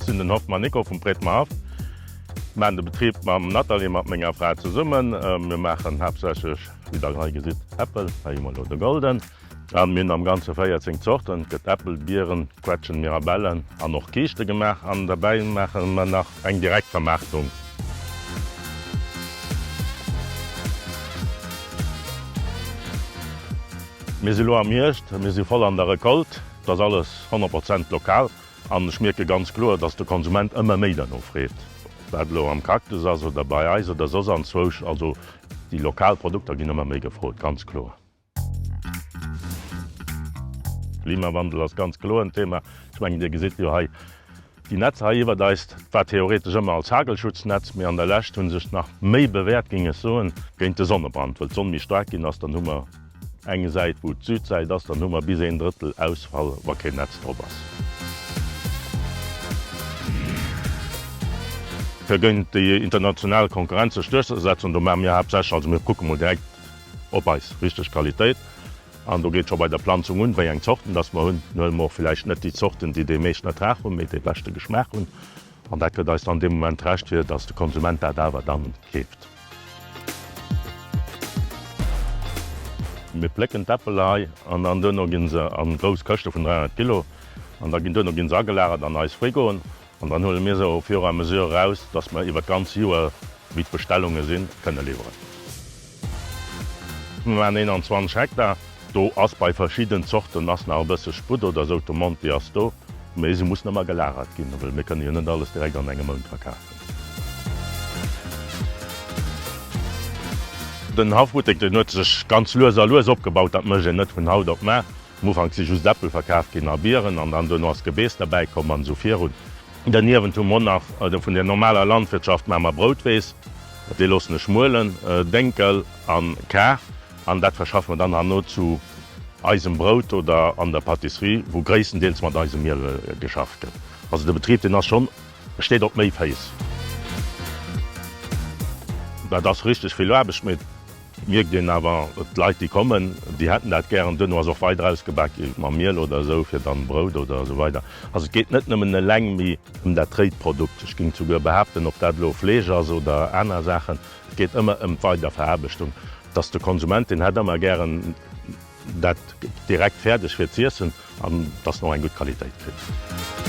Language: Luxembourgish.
Sinn den Hoffmann Nico vum Prétemer Haff, man de Betrib mam Nathalie, mat menger Fra zesummen. Mir maachen haaptsächlech, wéi der hei gesitt, Äppel, hei hu mer elo de Golden. An mir hunn am ganze 14 Zorten, et gëtt Äppel, Bieren, Quetschen, Mirabellen an och Kiischte gemaach an derbäi maache mer nach eng Direktvermaartung. Mir si lo am Hierscht, mir si voll an der Recolte, et ass alles 100 Prozent lokal an ech mierke ganz kloer, dass de Konsument ëmmer méi derno freet, ob dat elo am Cactus ass oder bei eis oder soss anzwousch, also déi lokal Produkter ginn ëmmer méi gefrot, ganz kloer. Klimawandel ass ganz kloer en Thema. Ech mengen, Dir gesitt jo hei déi Netzer hei iwwert eis. Dat war theoretesch ëmmer als Hagelschutznetz, mee an der Lescht hu sech nach méi bewäert, géing ech soen, géint de Sonnebrand. Well d'Sonn méi staark ginn ass, dann hu mer eng Säit, wou d'Südsäit ass, dann hu mer bis een Drëttel Ausfall, wa keen Netz drop ass. Fir géint déi international Konkurrenz sech duerchzesetzen, do maache mir haaptsächlech, also mir kucke mol direkt, op eis richteg Qualitéit. An do geet scho bei der Planzung un, wéi eng Zorten dass mer hunn. Dann huele mer och villäicht net déi Zorten, déi dee meeschten Ertrag hunn, mee dee beschte Geschmaach hunn. An dat gëtt eis dann dee Moment d'Recht, fir dass de Konsument dat awer dann keeft. Mir plécken d'Äppel hei an dann duerno gi se a grouss Këschte vun 300 Kilo an da ginn duerno gi se agelagert an eis Frigoen. An dann huele mir se au fur et à mesure eraus, dass mer iwwert d'ganz Joer, wéi d'Bestellunge sinn, kënne liwweren. Mir maachen 21 Hektar, do ass bei verschidden Zorten ass nach e bësse Sputt oder esou, d'Demande déi ass do, mee se mussen ëmmer gelagert ginn, well mir kënne jo net alles direkt an engem Mount verkafen. Den Haff Buttek, deen huet sech ganz lues a lues opgebaut, dat mécht een net vun haut op mar. Am Ufank si just Äppel verkaf ginn a Bieren an dann duerno ass Gebeess derbäi komm an esou virun. Derniewent hu mer nach vun der normaler Landwirtschaft maache mer Broutweess, déi loossen ech muelen, Dénkel an Kar an dat verschaffe mer dann herno zu eisem Brout oder an der Patisserie wou gréisstendeels mat eisem Miel geschafft gëtt. Also de Betrib deen ass schonn, steet op méi Féiss. Dat ass richteg vill Aarbecht mee. Mierkt een awer, d'Leit déi kommen, déi hätten dat gär, an duerno ass och weider ausgebak gi mam Miel oder esou fir dann Brout oder esou weider. Also et geet net nëmmen eleng méi ëm dat réit Produkt, ech géing souguer behaapten, ob dat elo Fleesch ass oder aner Saachen, et geet ëmmer ëm d'Weiderveraarbechtung, dass de Konsument, deen hätt ëmmer gären dat direkt fäerdeg fir z'iessen an dass en och eng gutt Qualitéit kritt.